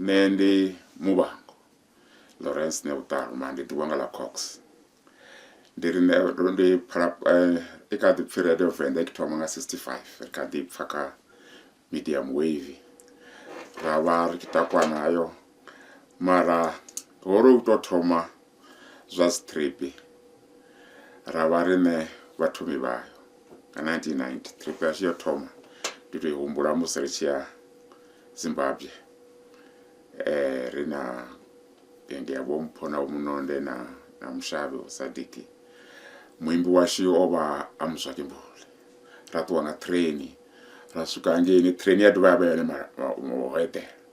nṋe ndi muvhango lawrence ne vhuṱaluma ndi ḓivha nga ḽa cox ndi ri nṋe ndo ndi phala eh, i kha ḓi pfi radio venḓa i kho thoma nga 65 ri kha ḓi pfa kha medium wave ra vha ri tshi takwa nayo mara ho ri u tou thoma zwa strip ra vha riṋe vhathomi vhayo nga 1990 trip yashu yo thoma ndi tou i humbula musi ri tshi ya zimbabwe um ri na bende ya vhompho na vhomunonde na na mushavhe usadiki muimbi washu o vha a muzwakembule ra ṱuwa nga train ra swika hangeini train ya dovha ya vha yone ho eḓela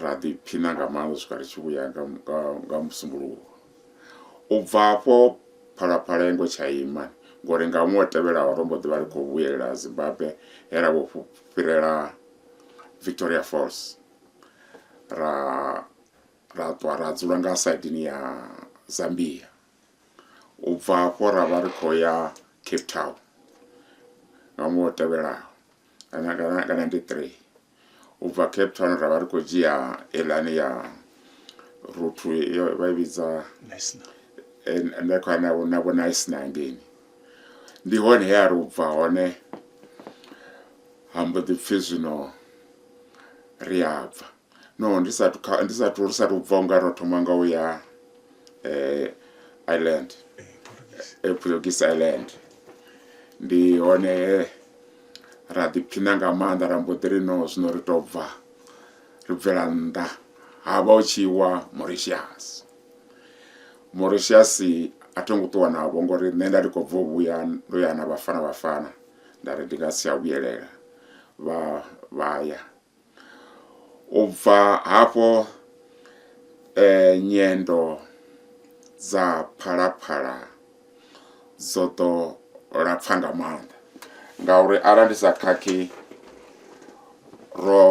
ra ḓiphina nga maanḓa swika ri tshi vhuya nga musumbuluwo u bva afho phalaphala yengo tsha ima ngori nga ṅwe tevhelaho ro mbo ḓi vha ri khou vhuyelela zimbabwe he ra vho fhirela victoria falls ra ra ṱwa ra dzula nga saidini ya zambia u bva hafho ra vha ri khou ya cape town nga ṅwaha o tevhelaho kana kana nga 93 u bva cape town ra vha ri khou dzhia elani ya ruthu yo vha i vhidza nda khou na na vho nice na ngeni ndi hone he a ri u bva hone ha mbo ḓi pfhi zwino ri a bva No, ndi sathu kha ndi sathu ri sathu bva unga ro thoma nga u ya eh Ireland. Eh Portuguese Ireland. Ndi hone he ra ḓiphina nga maanḓa ra mbo ḓi ri no zwino ri to bva ri bvela nnḓa ha vha u tshi wa Mauritius. Mauritius a tho ngo ṱuwa navho ngori nṋe nda ndi khou bva u vhuya ndo ya na vhafana vhafana nda ri ndi nga si tsha vhuyelela vha vha ya U bva hafho nyendo dza phalaphala dzo ḓo lapfa nga maanḓa ngauri arali ndi sa khakhi ro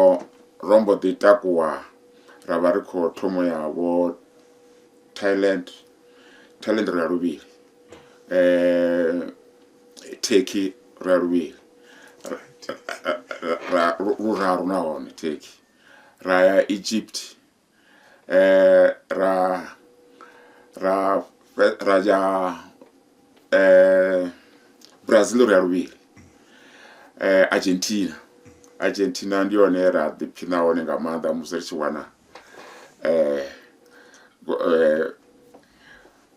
ro mbo ḓi takuwa ra vha ri khou thoma ya vho Thailand, Thailand ro ya luvhili . thekhi ra luvhili ra luraru nahone thekhi ra ya egypt eh ra ra ra ya eh brazil ri ya luvhili eh argentina argentina ndi yone ra ḓiphina hone nga maanḓa musi ri tshi wana eh eh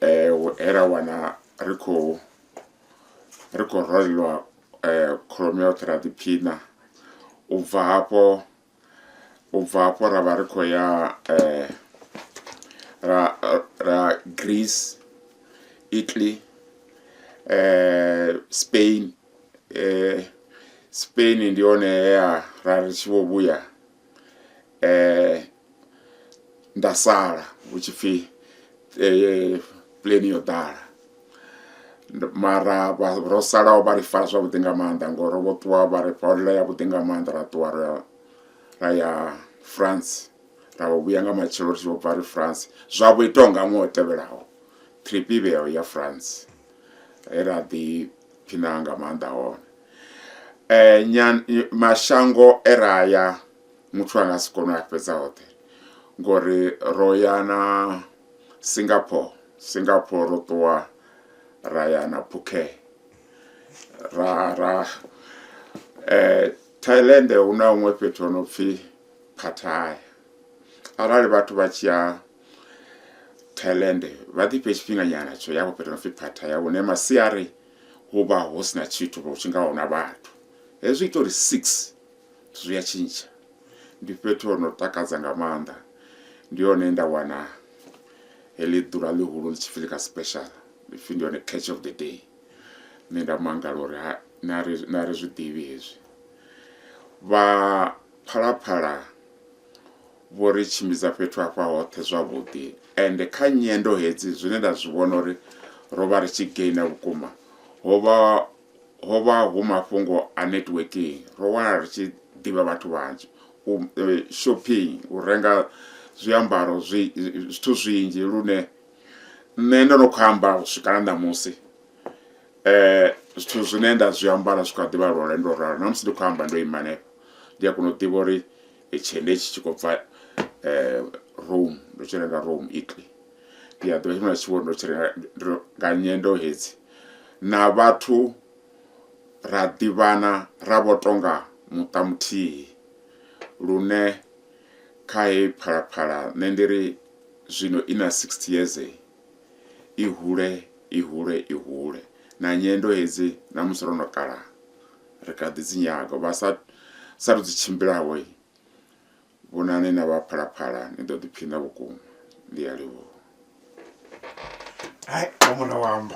eh era wana ri khou ri khou rwelwa kholomo ya vhoṱhe ra ḓiphina u bva hafho u bva hafho ra vha ri khou ya ra ra Greece Italy Spain Spain ndi hone he ha ra ri tshi vho vhuya. eh nda sala hu tshi pfhi eh, pleni yo ḓala mara ro salaho vha ri fara zwavhuḓi nga maanḓa ngori ro vho ṱuwa vha ri holela yavhuḓi nga maanḓa ra ṱuwa ra ya france ra vho vhuya nga matshelo ri tshi vho bva ri france zwa vho itaho nga ṅwe o tevhelaho trip ivheyo ya france he ra ḓi phina nga maanḓa hone eh, nyan, mashango e ra ya muthu ane a si kone u a fhedza hoṱhe ngori ro ya na singapore singapore ro ṱuwa ra ya na phuke ra ra eh, thailand hu na huṅwe fhethu ho no pfhi phathaya arali vhathu vha tshi ya thailand vha ḓifhe tshifhinganyana tsho ya vho fhethu no pfhi phathaya hune masiari hu vha hu si na tshithu vho tshi nga huna vhathu. Hezwi ita uri six zwithu zwi a tshintsha. Ndi fhethu ho no takadza nga maanḓa, ndi hone nda wana heḽi ḓuvha ḽihulu ḽi tshi pfhi ḽika special, ipfhi ndi hone catch of the day. Nṋe nda mangala uri ha na ri na ri zwi ḓivhi hezwi. Vha Phalaphala Vho ri tshimbidza fhethu hafha hoṱhe zwavhuḓi ende kha nyendo hedzi zwine nda zwi vhona uri ro vha ri tshi gainer vhukuma ho vha ho vha hu mafhungo a networking, ro wanala ri tshi ḓivha vhathu vhanzhi, u shopping, u renga zwiambaro zwi zwithu zwinzhi lune nṋe ndo no khou amba u swika na ṋamusi zwithu zwine nda zwi ambara zwi kha ḓivha lwa lwendo lwo ralo na musi ndi khou amba ndo ima hanefho ndi a kona u ḓivha uri tshende itshi tshi khou bva um rome ndo tshi renga rome italy ndi a ḓivha tshifhinga tshi vho ndo tshi renga nga nyendo hedzi na vhathu ra ḓivhana ra vho tonga muṱa muthihi lune kha heyi phalaphala nṋe ndi ri zwino i na 60 years i hule i hule i hule na nyendo hedzi na musi ro no kala ri kha ḓi dzi nyaga vha sa sa ri dzi tshimbilaho vhonani na vha phalaphala ni ḓo ḓiphina vhukuma ndi a livhuwa hai mura wamba